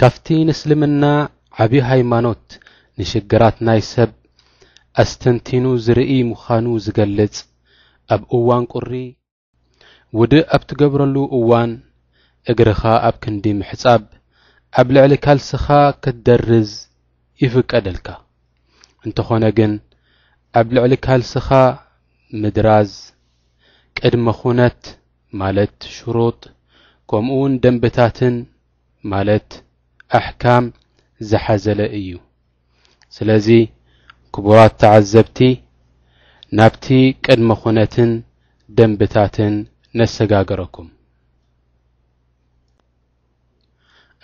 ካብቲ ንእስልምና ዓብዪ ሃይማኖት ንሽግራት ናይ ሰብ ኣስተንቲኑ ዝርኢ ምዃኑ ዝገልጽ ኣብ እዋን ቁሪ ውድእ ኣብ ትገብረሉ እዋን እግርኻ ኣብ ክንዲ ምሕጻብ ኣብ ልዕሊ ካልስኻ ክትደርዝ ይፍቀደልካ። እንተኾነ ግን ኣብ ልዕሊ ካልስኻ ምድራዝ ቅድመ ኩነት ማለት ሽሩጥ ከምኡውን ደንብታትን ማለት ኣሕካም ዝሓዘለ እዩ። ስለዚ ክቡራት ተዓዘብቲ ናብቲ ቅድመ ኩነትን ደንብታትን ነሰጋገረኩም።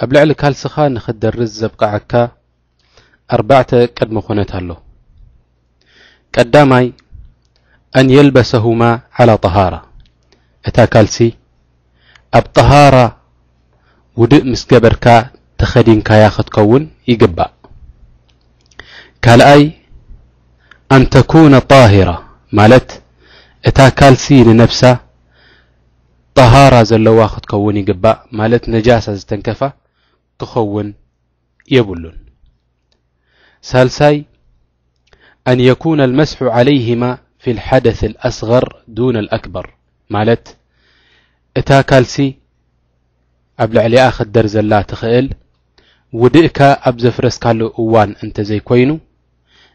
ኣብ ልዕሊ ካልስኻ ንኽትደርዝ ዘብቕዓካ ኣርባዕተ ቅድመ ኩነት ኣሎ። ቀዳማይ ኣን የልበሰሁማ ዓላ ጠሃራ እታ ካልሲ ኣብ ጠሃራ ውድእ ምስ ገበርካ ተኸዲንካያ ክትከውን ይግባእ ካልኣይ ኣን ተኩነ ጣሂራ ማለት እታ ካልሲ ንነብሳ ጠሃራ ዘለዋ ክትከውን ይግባእ ማለት ነጃሳ ዝተንከፋ ክኸውን የብሉን። ሳልሳይ፣ ኣን የኩነ ኣልመስሑ ዓለይህማ ፊ ልሓደት ኣልኣስገር ዱነ ኣልኣክበር ማለት እታ ካልሲ ኣብ ልዕሊኣ ክደር ዘላ ትኽእል ውድእካ ኣብ ዘፍረስካሉ እዋን እንተዘይኮይኑ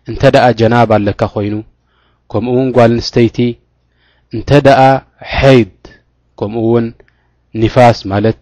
እንተ ደኣ ጀናባ ኣለካ ኮይኑ ከምኡ ውን ጓል ንስተይቲ እንተ ደኣ ሐይድ ከምኡ ውን ኒፋስ ማለት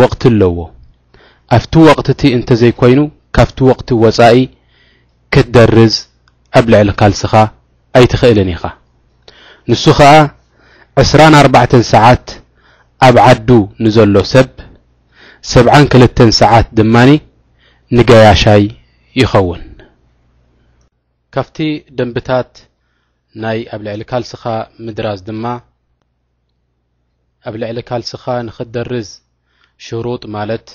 ወቕቲ ኣለዎ። ኣብቲ ወቕቲ'ቲ እንተዘይኮይኑ ካብቲ ወቕቲ ወጻኢ ክትደርዝ ኣብ ልዕሊ ካልስኻ ኣይትኽእልን ኢኻ። ንሱ ከኣ ዕስራን ኣርባዕተን ሰዓት ኣብ ዓዱ ንዘሎ ሰብ፣ ሰብዓን ክልተን ሰዓት ድማ ንገያሻይ ይኸውን። ካብቲ ደንብታት ናይ ኣብ ልዕሊ ካልስኻ ምድራዝ ድማ፣ ኣብ ልዕሊ ካልስኻ ንኽትደርዝ ሽሩጥ ማለት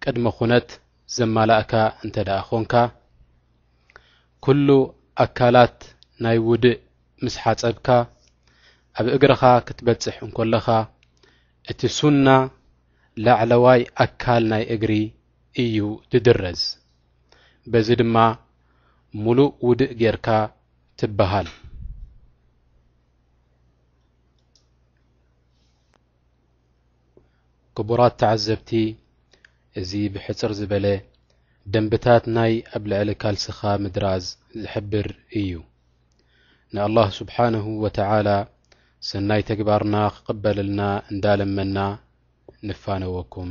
ቅድመ ኩነት ዘማላእካ እንተ ደኣ ኾንካ፣ ኩሉ ኣካላት ናይ ውድእ ምስ ሓጸብካ ኣብ እግርኻ ክትበጽሕ እንኮለኻ፣ እቲ ሱና ላዕለዋይ ኣካል ናይ እግሪ እዩ ድድረዝ። በዚ ድማ ሙሉእ ውድእ ጌርካ ትበሃል። ክቡራት ተዓዘብቲ እዚ ብሕጽር ዝበለ ደንብታት ናይ ኣብ ልዕሊ ካልስኻ ምድራዝ ዝሕብር እዩ ንኣላህ ስብሓንሁ ወተዓላ ሰናይ ተግባርና ክቕበልልና እንዳለመና ንፋነወኩም